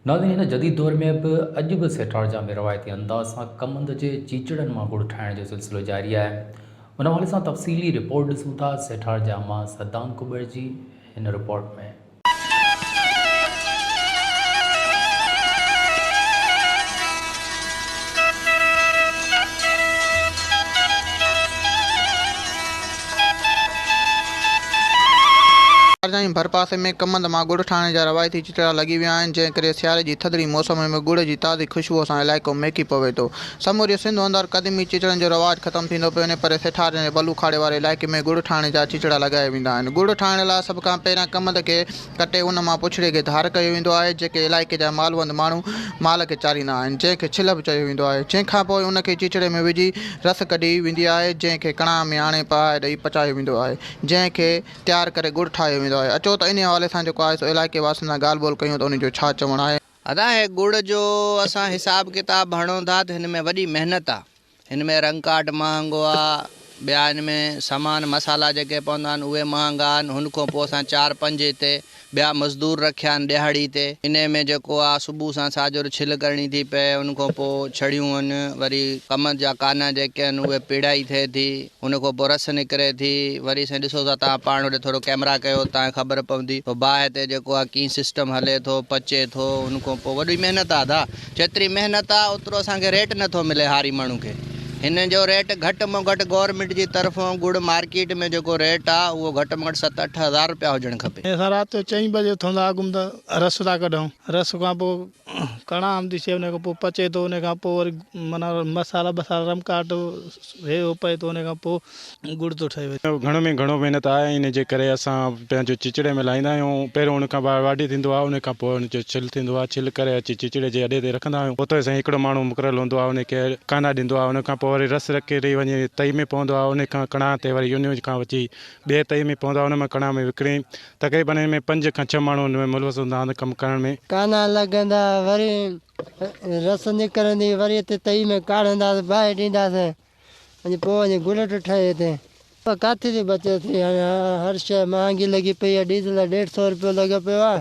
ناظرين هن جديد دور ۾ به اڄ به سيٺارجان ۾ روايتي انداز سان ڪمند جي چيچڙن مان گڙ ٺاهڻ جو سلسلو جاري آهي ان حوالي سان تفصيلي رپورٽ ڏسون ٿا سيٺارجان مان صدام ڪٻڙ جي هن رپورٽ ۾. شارجا جي ڀرپاسي ۾ ڪمند مان ڳڙ ٺاهڻ جا روايتي چچڙا لڳي ويا آهن، جنهن ڪري سياري جي ٿڌڙي موسم ۾ ڳڙ جي تازي خوشبوء سان علائقو مهڪي پوي ٿو. سموري سنڌ اندر قديمي چچڙن جو رواج ختم ٿيندو پيو وڃي، پر سيٺارين جي بلوخاڙي واري علائقي ۾ ڳڙ ٺاهڻ جا چچڙا لڳايا ويندا آهن. ڳڙ ٺاهڻ لاء سڀ کان پهريان ڪمند کي. ڪٽي ان مان پڇڙي کي ڌار ڪيو ويندو آهي، جيڪي علائقي جا مالوند ماڻهو مال کي چاريندا آهن، جنهن کي ڇلهه به چيو ويندو آهي، جنهن کان پوء ان کي چيچڙي ۾ وجهي رس ڪڍي ويندي آهي، جنهن کي ڪڻاهه ۾ آڻي پهائي ڏئي پچايو ويندو آهي، جنهن کي تيار ڪري ڳڙ ٺاهيو ويندو آهي، اچو ته انهي حوالي سان جيڪو آهي سو علائقي واسين سان ڳالهه ٻولهه ڪيون ته انهي جو ڇا چوڻ آهي. ادا هي ڳڙ جو اسان حساب ڪتاب هڻون ٿا ته هن ۾ وڏي محنت آ. هن ۾ رنگ ڪاٺ مهانگو آ، ٻيا هن ۾ سامان مصالحا جيڪي پوندا آهن اهي مهانگا آهن، هن کان پوء اسان چار پنج هتي ٻيا مزدور رکيا آهن ڏهاڙي تي، انهي ۾ جيڪو آ صبح سان ساجهر ڇل ڪرڻي ٿي پئي، ان کان پوء ڇڙيون هن، وري ڪم جا ڪانه جيڪي هن اهي پيڙهائي ٿئي ٿي. ان کان پوء رس نڪري ٿي وري سائين ڏسو سا توهان پاڻ هوڏي ٿورو ڪيمرا ڪيو توهان کي خبر پوندي تو باهه تي جيڪو آ ڪيئن سسٽم هلي ٿو پچي ٿو ان کان پوء وڏي محنت آ دا جيتري محنت آ اوترو اسان کي ريٽ نه ٿو ملي هاري ماڻهو کي هن جو ريٽ گهٽ مان گهٽ گورنمينٽ جي طرفون گڙ مارڪيٽ ۾ جيڪو ريٽ آ اهو گهٽ مان گهٽ ست اٺ هزار روپيا هجڻ کپي. اسان رات جو چئين بجي اٿون ٿا اڳ م ته رس ٿا ڪڍون رس کان پوء ڪڻا آمدي شيء ان کان پوء پچي ٿو ان کان پوء وري معنيٰ مصالحا بصالحا رم ڪاٽ هي هو پئي ٿو ان کان پوء ڳڙ ٿو ٺهي وڃي. گهڻو ۾ گهڻو محنت آهي ان جي ڪري اسان پنهنجو چچڙي ۾ لاهيندا آهيون پهريون ان کان ٻاهر واڍي ٿيندو آهي ان کان پوء ان جو ڇل ٿيندو آهي ڇل ڪري اچي چچڙي جي اڏي تي رکندا آهيون اوتو سائين هڪڙو ماڻهو مقرر هوندو آهي ان کي ڪاندا ڏيندو آهي ان کان پوء وري رس رکي وڃي تئي ۾ پوندو آهي ان کان ڪڻا تي وري ان کان اچي ٻي تئي ۾ پوندو آهي ان مان ڪڻا ۾ وڪڻي تقريبن ان ۾ پنج کان ڇهه ماڻهو ان ۾ ملوث هوندا هئا ته ڪم ڪرڻ ۾. ڪانا لڳندا وري رس نڪرندي وري اتي تئي ۾ ڪاڙهنداسين ٻاهي ڏينداسين ۽ پوء وڃي گلٽ ٺهي هتي. پر ڪاٿي ٿي بچت ٿئي هاڻي هر شيء مهانگي لڳي پئي آهي ڊيزل ڏيڍ سئو روپيو لڳو پيو آهي.